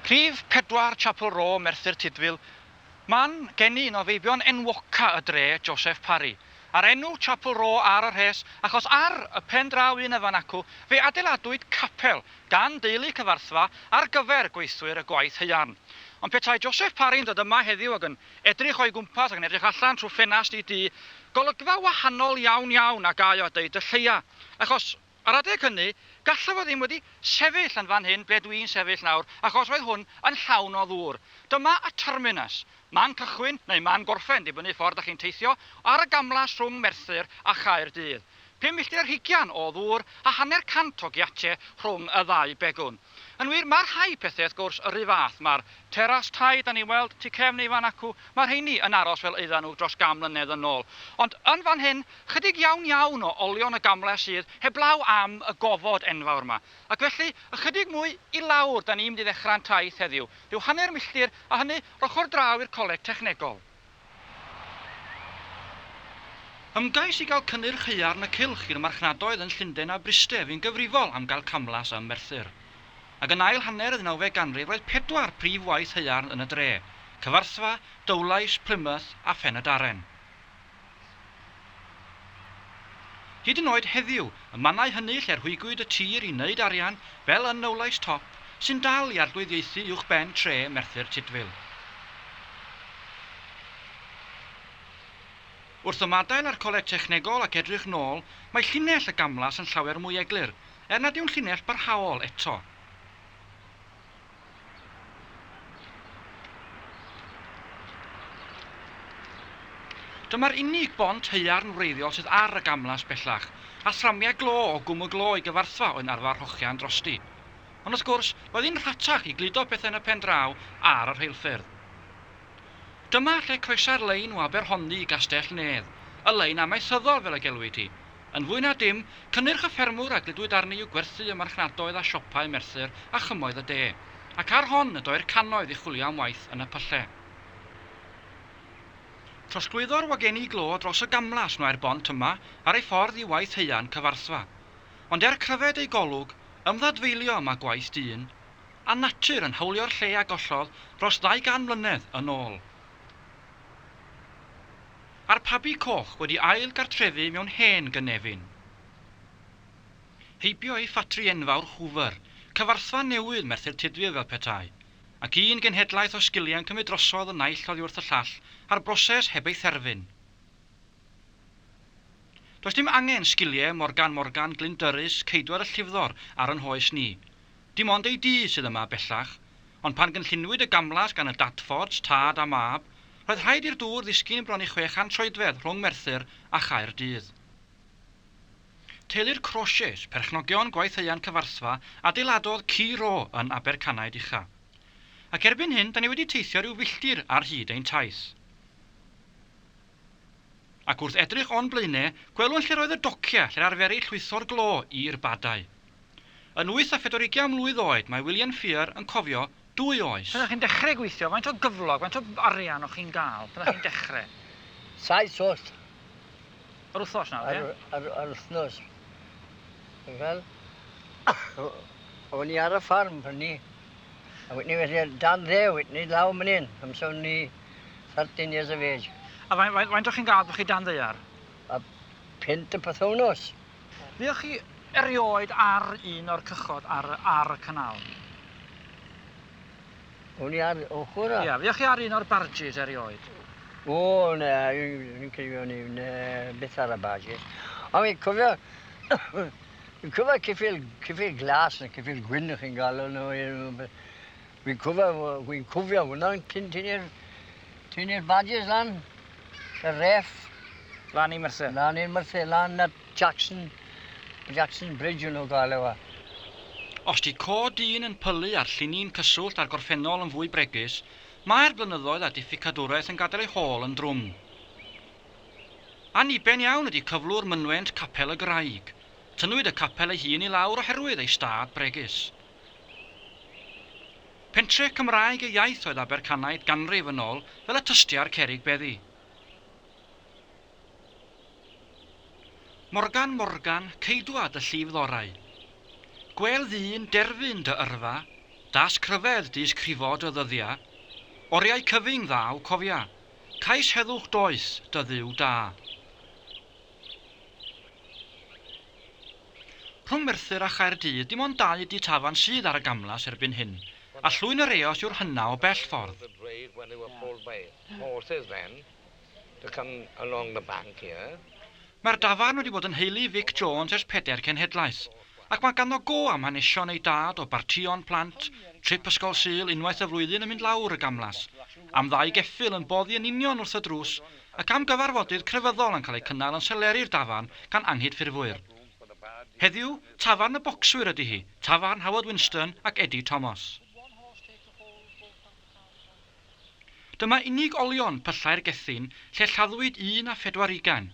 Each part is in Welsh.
Rhif pedwar, Chapel Row, Merthyr Tudful, Man geni un o feibion enwoca y dre, Joseph Parry. A'r enw Chapel Row ar y rhes achos ar y pen draw un efan acw fe adeiladwyd capel gan deulu Cyfarthfa ar gyfer gweithwyr y gwaith haearn. Ond petai Joseph Parry'n dod yma heddiw ag yn edrych o'i gwmpas ac yn edrych allan trwy ffenast i dŷ golygfa wahanol iawn iawn a gaeo a deud y lleia achos Ar adeg hynny, gallaf fod ddim wedi sefyll yn fan hyn ble dw i'n sefyll nawr, achos roedd hwn yn llawn o ddŵr. Dyma y terminus, man cychwyn neu man gorffen, dibynnu ffordd dach chi'n teithio, ar y gamlas rhwng Merthyr a Chaerdydd. Pum milltir ar hugain o ddŵr a hanner cant o giate rhwng y ddau begwn. Yn wir, mae rhai pethau wrth gwrs yr rhy fath, mae'r teras tai 'da ni'n weld tu cefn ei fan acw, mae rheiny yn aros fel oeddan nhw dros gan mlynedd yn ôl. Ond yn fan hyn, 'chydig iawn iawn o olion y gamlas sydd heblaw am y gofod enfawr 'ma. Ac felly, ychydig mwy i lawr 'da ni'n mynd i ddechrau'n taith heddiw, rhyw hanner milltir, a hynny 'r ochr draw i'r coleg technegol. Ymgais i gael cynnyrch haearn y cylch i'r marchnadoedd yn Llundain a Bryste fu'n gyfrifol am gael camlas ym Merthyr. Ac yn ail hanner y ddeunawfed ganrif roedd pedwar prif waith haearn yn y dre, Cyfarthfa, Dowlais, Plymouth a Phen-y-Darren. Hyd yn oed heddiw, y mannau hynny lle rhwygwyd y tir i wneud arian, fel yn Nowlais Top, sy'n dal i arglwyddiaethu uwchben tre Merthyr Tudful. Wrth ymadael â'r coleg technegol ac edrych nôl, mae llinell y gamlas yn llawer mwy eglur, er nad yw'n llinell barhaol eto. Dyma'r unig bont haearn wreiddiol sydd ar y gamlas bellach, a thramiau glo o Gwm y Glo i Gyfarthfa oedd yn arfer hogian drosti. Ond wrth gwrs, roedd hi'n rhatach i gludo pethau yn y pen draw ar y rheilffyrdd. Dyma lle croesai'r lein o Aberhonddu i Gastell-nedd, y lein amaethyddol fel y gelwid hi. Yn fwy na dim, cynnyrch y ffermwr a gludwyd arni yw gwerthu ym marchnadoedd a siopau Merthyr a chymoedd y de. Ac ar hon y doi'r cannoedd i chwilio am waith yn y pylle. Trosglwyddo'r wagenni glo dros y gamlas mae'r bont yma ar ei ffordd i waith haearn Cyfarthfa. Ond er cryfed ei golwg, ymddadfeilio y mae gwaith dyn a natur yn hawlio'r lle a gollodd dros ddau gan mlynedd yn ôl. A'r pabi coch wedi ail gartrefu mewn hen gynefin. Heibio ei ffatri enfawr Hoover, cyfarthfa newydd Merthyr Tudful fel petai, ac un genhedlaeth o sgiliau'n cymryd drosodd y naill oddi wrth y llall a'r broses heb ei therfyn. Does dim angen sgiliau Morgan Morgan, Glyn Durys, Ceidwad y Llifddor ar yn hoes ni. Dim ond ei dŷ sydd yma bellach, ond pan gynlluniwyd y gamlas gan y Dadfords, tad a mab, roedd rhaid i'r dŵr ddisgyn bron i 600 troedfedd rhwng Merthyr a Chaerdydd. Teulu'r Crauchetes, perchnogion gwaitheuan Cyfarthfa, adeiladodd Ci Ro yn Abercanaid Ucha. Ac erbyn hyn, da ni wedi teithio rhyw filltir ar hyd ein taith. Ac wrth edrych o'n blaenau, gwelwn lle'r oedd y dociau lle'r arferai llwytho'r glo i'r badau. Yn wyth a phedwar ugian mlwydd oed, mae William Fear yn cofio dwy oes. Pan o'ch chi'n dechre gweithio, faint o gyflog, faint o arian o'ch chi'n ga'l pan o'ch chi'n dechre? Saith oll. Yr wthnos nawr, ie? Ar y, ar yr wthnos. Ti'n gweld? O'n i ar y ffarm pryd 'ny. A wedyn 'ny felly ar dan ddew, wedyn 'ny law myn 'yn, amser o'n i thirteen years of age. A faint, faint, faint o'ch chi'n ga'l pan chi dan ddaear? A punt y pythownos. Buoch chi erioed ar un o'r cychod ar, ar y canal? O'n i ar ochr a... Ia, fuoch chi ar un o'r barges erioed? O, na, dwi'n cofio ni, na, beth ar y barges. Ond fi'n cofio, fi'n cofio cyffil, cyffil glas neu cyffil gwyn o'ch chi'n galw nhw. Fi'n cofio fi'n cofio hwnna yn tyn- tynnu'r tynnu'r badges lan y ref. Lan i Merthyr? Lan i'r Merthyr, lan at Jackson, Jackson Bridge o'n nhw'n cael e fa. Os 'di côd dyn yn pylu a'r llinyn cyswllt a'r gorffennol yn fwy bregus, mae'r blynyddoedd a difficadwraeth yn gadael ei hôl yn drwm. Anniben iawn ydi cyflwr mynwent Capel y Graig. Tynnwyd y capel ei hun i lawr oherwydd ei stad bregus. Pentre Cymraeg y iaith oedd Abercanaid ganrif yn ôl fel y tystia'r cerrig beddi. Morgan Morgan, ceidwad y llif ddorau. Gwêl ddyn, derfyn dy yrfa, dasg rhyfedd dys crifo dy ddyddia, oriau cyfyng ddaw cofia, cais heddwch doeth dy Dduw da. Rhwng Merthyr a Chaerdydd dim ond dau du tafarn sydd ar y gamlas erbyn hyn, a Llwyn yr Eos yw'r hynna o bell ffordd. Mae'r dafarn wedi bod yn nheulu Vic Jones ers pedair cenhedlaeth, ac mae ganddo go am hanesion ei dad o bartïon plant, trip ysgol Sul unwaith y flwyddyn yn mynd lawr y gamlas, am ddau geffyl yn boddi yn union wrth y drws y camgyfarfodydd crefyddol yn cael eu cynnal yn Seleri-r Dafarn gan anghydffurfwyr. Heddiw, Tafarn y Bocswyr ydy hi, tafarn Howard Winston ac Eddie Thomas. Dyma unig olion pyllau'r Gethin lle lladdwyd un a phedwar ugain.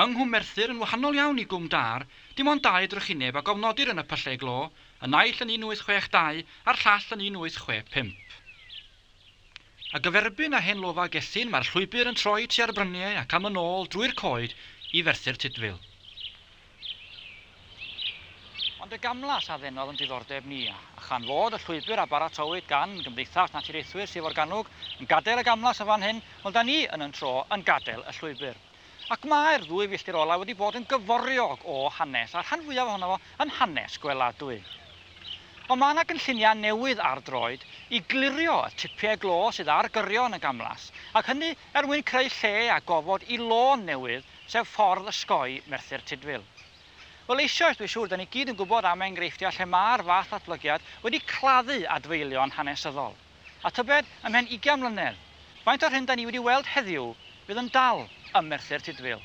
Yng Nghwm Merthyr, yn wahanol iawn i Gwm Dâr, dim ond dau drychineb a gofnodir yn y pyllau glo, y naill yn 1862 a'r llall yn 1865. A gyferbyn â hen lofa Gethin mae'r llwybr yn troi tua'r bryniau ac am yn ôl drwy'r coed i Ferthyr Tudful. Ond y gamlas a ddenodd yn diddordeb ni, a chan fod y llwybr a baratowyd gan Gymdeithas Naturiaethwyr Sir Forgannwg yn gadael y gamlas yn fan hyn, wel 'da ni yn yn tro yn gadael y llwybr. Ac mae'r ddwy filltir olaf wedi bod yn gyforiog o hanes, a'r rhan fwyaf ohono fo yn hanes gweladwy. Ond mae yna gynlluniau newydd ar droed i glirio y tipiau glo sydd ar gyrion y gamlas, ac hynny er mwyn creu lle a gofod i lôn newydd, sef ffordd osgoi Merthyr Tudful. Wel eisioes, dwi'n siŵr, 'da ni gyd yn gwybod am enghreifftiau lle mae'r fath ddatblygiad wedi claddu adfeilion hanesyddol. A tybed, ymhen ugian mlynedd, faint o'r hyn 'da ni wedi weld heddiw fydd yn dal ym Merthyr Tudful?